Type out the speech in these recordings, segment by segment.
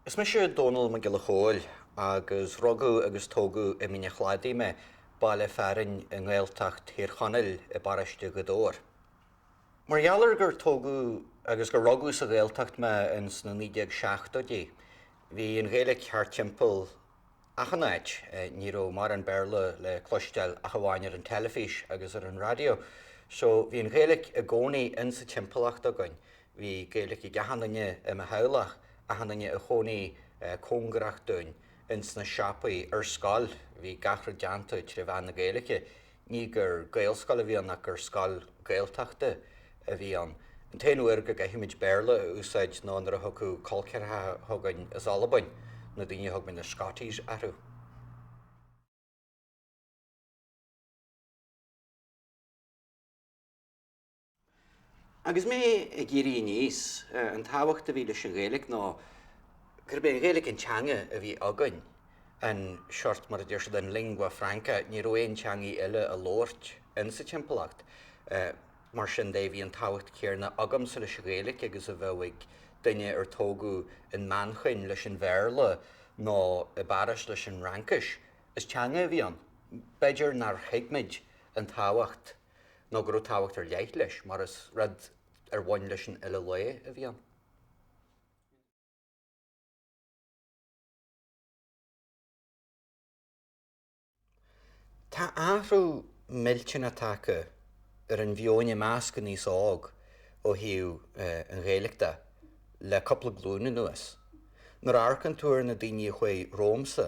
Is mise Dónall Mac Giolla Chóill agus rugadh agus tógadh i Mín a' Chladaigh mé, baile fearainn i nGaeltacht Thír Chonaill i bparóiste Ghaoth Dobhair. Mar gheall ar gur tógadh agus gur rugadh sa Ghaeltacht mé ins na 1970í, bhí an Ghaeilge thart timpeall achan áit, ní raibh mórán Béarla le cloisteáil ach amháin ar an teilifís agus ar an raidió, so bhí an Ghaeilge i gcónaí ins a' timpeallacht againn, bhí Gaeilge ag achan duine i mo theaghlach, achan duine a chónaigh cóngarach dúinn, ins na siopaí, ar scoil, bhí gach rud déanta tré mheán na Gaeilge. Ní gur Gaelscoil a bhí ann ach gur scoil Ghaeltachta a bhí ann. An t-aon uair go gcaithfimis Béarla a úsáid ná nuair a thiocfadh col ceathracha chugainn as Albain, na daoine a thug muid na Scotties orthu. Agus mé ag éirí aníos, an tábhacht a bhí leis an Ghaeilge ná gurb é an Ghaeilge an teanga a bhí againn, an sórt, mar a deir siad, an lingua franca, ní raibh aon teangaidh eile á labhairt in sa timpeallacht. Mar sin de, bhí an tábhacht chéanna agamsa leis an Ghaeilge agus a bheadh ag duine ar tógadh in Manchain leis an Bhéarla nó i bPáras leis an Fhraincis. Is teanga a bhí ann. B'fhéidir nár thuig muid an tábhacht. nó go raibh tábhacht ar leith leis, mar is rud ar bhain leis an uile lá a bhí ann. Tá athrú millteach tagtha ar an mheon i measc an aois óg ó thaobh an Ghaeilge de le cúpla glúin anuas. Nuair a amharcann tú ar na daoine a chuaigh romhamsa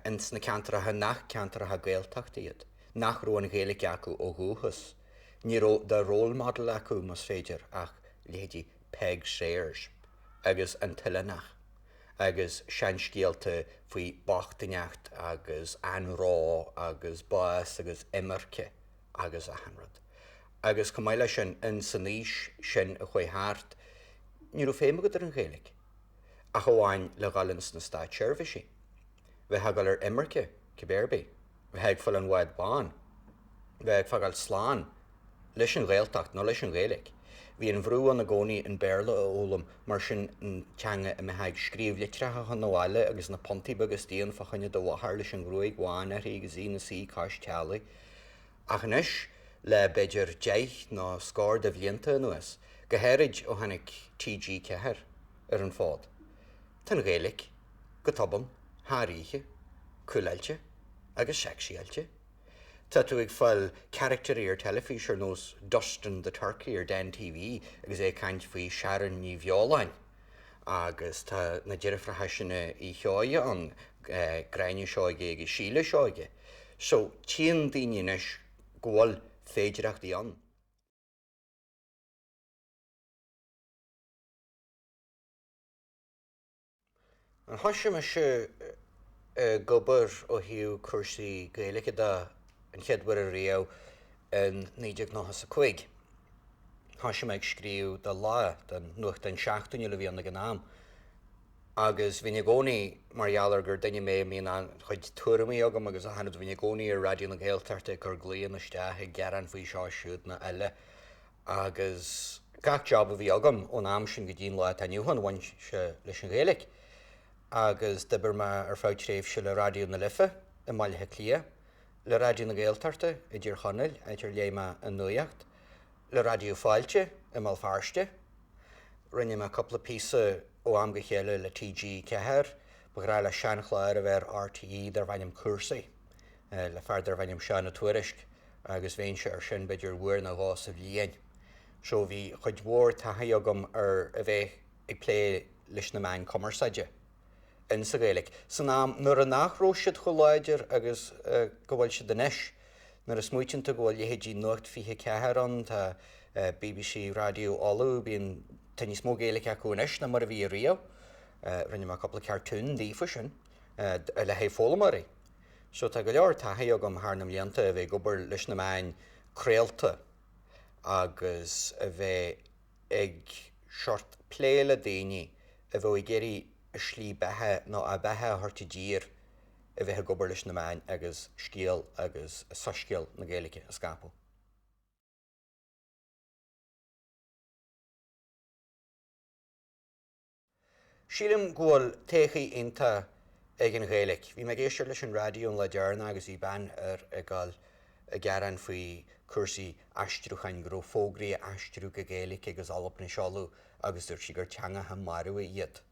ins na ceantracha nach ceantracha Gaeltachta iad, nach raibh an Ghaeilge acu ó dhúchas, ní raibh de 'role model' acu, más féidir, ach leithéidí Peig Sayers agus an tOileánach agus seanscéalta faoi bhochtaineacht agus anró agus bás agus imirce agus achan rud. Agus chomh maith leis sin, in san aois sin a chuaigh thart, ní raibh feidhm agat ar an Ghaeilge ach amháin le dhul in sna státseirbhísí, bheifeá ag dul ar imirce, cibé ar bith é. bheith ag fáil an bháid bháin, bheith ag fágáil slán leis an Ghaeltacht nó leis an Ghaeilge. Bhí an-bhrú ann i gcónaí an Béarla a fhoghlaim, mar sin, an teanga a mbeifeá ag scríobh litreacha chun an bhaile agus na puntaí beaga istigh ann fá choinne do mháthar leis an ghruaig bhán uirthi agus í ina suí cois teallaigh. Ach anois, le b'fhéidir deich nó scór de bhlianta anuas, go háirid ó tháinig TG4 ar an bhfód, Tá an Ghaeilge, go tobann, thar oíche, cúláilte agus sexy-áilte. Tá tú ag fáil carachtairí ar teilifís ar nós Dustin the Turkey ar Den TV agus é ag caint faoi Sharon Ní Bheoláin, agus tá na deirfiúracha sin Uí Sheoige ann, Gráinne Seoige agus Síle Seoige. So, tchíonn daoine anois go bhfuil féidireachtaí ann. Ah, thoisigh mise ag obair ó thaobh cúrsaí Gaeilge de an chéad uair ariamh in naoi déag nócha a cúig. Thoisigh mé ag scríobh do Lá, don nuachtán seachtainiúil a bhí ann ag an am, agus bhínn i gcónaí, mar gheall ar gur duine mé a mbíonn an-chuid tuairimí agam agus a thaifead, bhínn i gcónaí ar Raidió na Gaeltachta ag cur glaonna isteach ag gearán faoi seo siúd nó eile. Agus gach job a bhí agam ón am sin go dtí an lá atá inniu ann, bhain sé leis an Ghaeilge. Agus d'oibir mé ar feadh tréimhse le Raidió na Life i mBaile Átha Cliath, le Raidió na Gaeltachta i dTír Chonaill, áit ar léigh mé an nuaíocht, le Raidió Fáilte i mBéal Feirste. Rinne mé cúpla píosa ó am go chéile le TG4, ba ghnách le seanchlár a bheith ar RTÉ darbh ainm Cúrsaí. eh, le fear darbh ainm Seán Ó Tuairisc agus bheinnse ar sin b'fhéidir uair nó dhó sa bhliain. So bhí cuid mhór taithí agam ar a bheith ag plé leis na meáin cumarsáide in sa Ghaeilge san am nuair nach raibh siad chomh láidir agus go bhfuil siad anois. Nuair a smaoiníonn tú go bhfuil leithéidí Nuacht 24 ann, tá eh, BBC Raidió Uladh, bíonn, tá níos mó Gaeilge acu anois ná mar a bhí riamh. Eh, rinne mé cúpla cartoon daofa sin, eh, le haghaidh foghlaimeoirí. So tá go leor taithí agam thar na mblianta a bheith ag obair leis na meáin craolta agus a bheith ag sórt plé le daoine a bheadh ag iarraidh a slí beatha nó a beatha a thabhairt i dtír a bheith ag obair leis na meáin agus scéal agus soiscéal na Gaeilge a scaipeadh. Sílim go bhfuil todhchaí iontach ag an Ghaeilic. Bhí mé ag éisteacht leis an raidió an lá fá dheireadh agus bhí bean air ag gabhail a ghearán faoi cúrsaí aistriúcháin, go raibh fógraí á n-aistriú go Gaeilic agus Albain a seoladh agus dúirt sí gur teangacha marbha iad.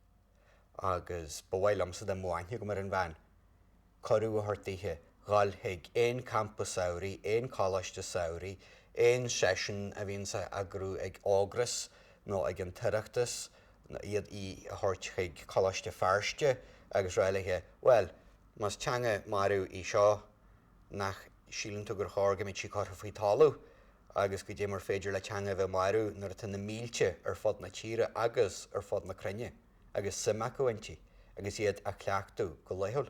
Agus ba mhaith liomsa dá mbainfeadh gum ar an bhean. cuireadh a thabhairt daoithe dhul chuig aon campa samhraidh, aon choláiste samhraidh, aon seisiún a bhíonns á eagrú ag Ógras nó ag an tOireachtas, iad, í, a thabhairt chuig Coláiste Feirste agus araile. Bhuel, más teanga marbh í seo, nach síleann tú gur chóir go mbeadh sí curtha faoi thalamh? Agus goidé mar féidir le teanga a bheith marbh nuair atá na mílte ar fud na tíre agus ar fud na cruinne, agus suim acu inti agus iad á cleachtadh go laethúil.